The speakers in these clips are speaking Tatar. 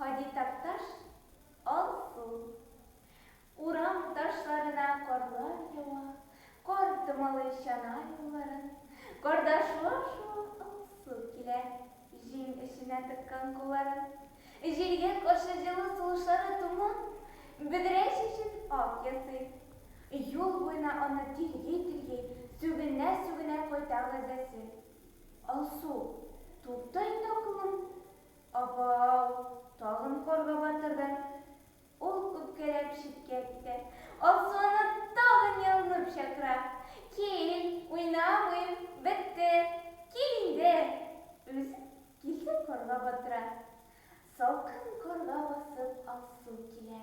Һади Такташ, Алсу. Урам ташларына карлар ява, Кар томалый чана юлларын, Карда шуа-шуа Алсу килә, Җиң эченә тыккан кулларын. Җилгә каршы җылы сулышлары Томан бөдрә чәчен ак ясый. Юл буена аны тирги-тирги, Сүгенә-сүгенә кайта газәсе. Алсу, тукта инде укуың. Апау, тагын карга батырды. Ул үпкәләп читкә китә. Алсу аны тагын ялынып чакыра. Кил, уйнамыйм, бетте, кил инде. Үзе килде карга батыра. Салкын карга басып Алсу килә.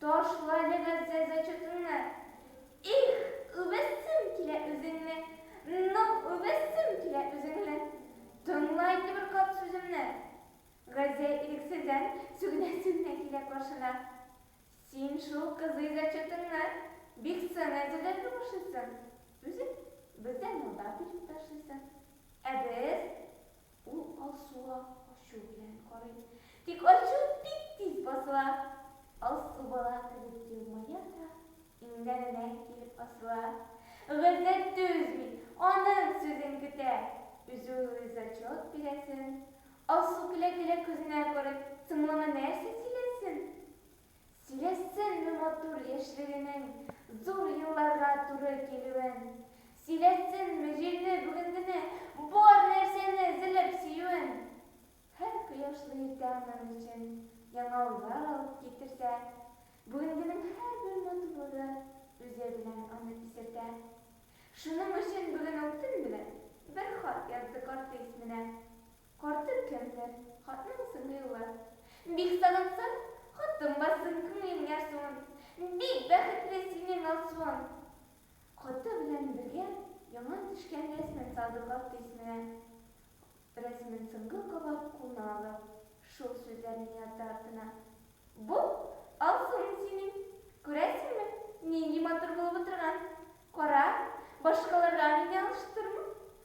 Ташлады Газзә зачетыңны. Их, үбәсем килә үзеңне, Ну, үбәсем килә үзеңне. Тыңла инде бер кат сүземне. Газзә ирексездән сүгенә-сүгенә килә каршына. Син шул кызый зачетыңны Бик соң әзерләргә башлыйсың. Үзең бездән алда килеп ташлыйсың. Ә без. Ул Алсуга ачу белән карый. Тик ачуы бик тиз басыла. Алсу бала кебек елмая да, иңнәренә килеп асыла. Гыйззәт түзми, аның сүзен көтә. Үзе уйлый зачет бирәсен. Алсу көлә-көлә күзенә күреп, соңлама нәрсә сөйләсен? Сөйләсенме матур яшьлегенең зур елларга туры килүен, Сөйләсенме җилне, бүгенгене, бар нәрсәне эзелеп сөюен. Һәр кояшлы иртә аның өчен яңа уйлар алып китерсә, Бүгенгенең һәрбер матурлыгы үзе белән аны исертә. Шуның өчен бүген ул төн белән бер хат язды карты исменә. Карты кемдер, хатның соңы юлы. Бик сагынсаң, хатын барсын күңелең ярсуын. Бик бәхетле синең Алсуың! Хаты белән бергә яңа төшкән рәсмен салды карт дисменә. Рәсмен соңгы кабат кулына алып, шул сүзләрне язды артына. Бу, Алсуың синең. Күрәсеңме, нинди матур булып утырган. Кара, башкаларга мине алыштырма.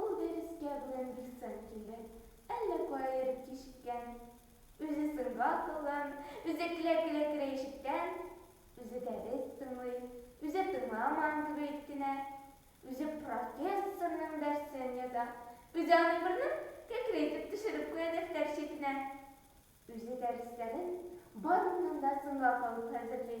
Ул дәрескә бүген бик соң килде, әллә кая йөреп кичеккән. Үзе сынга кылын, үзе көлә-көлә керә-ишектән. Үзе дәрес тыңлый, үзе тыңламаган кебек кенә. Үзе профессорның дәрсен яза, үзе аны борынын кәкре итеп төшереп куя дәфтәр читенә. Үзе дәресләрен барыннан да соңга калып хәзерли.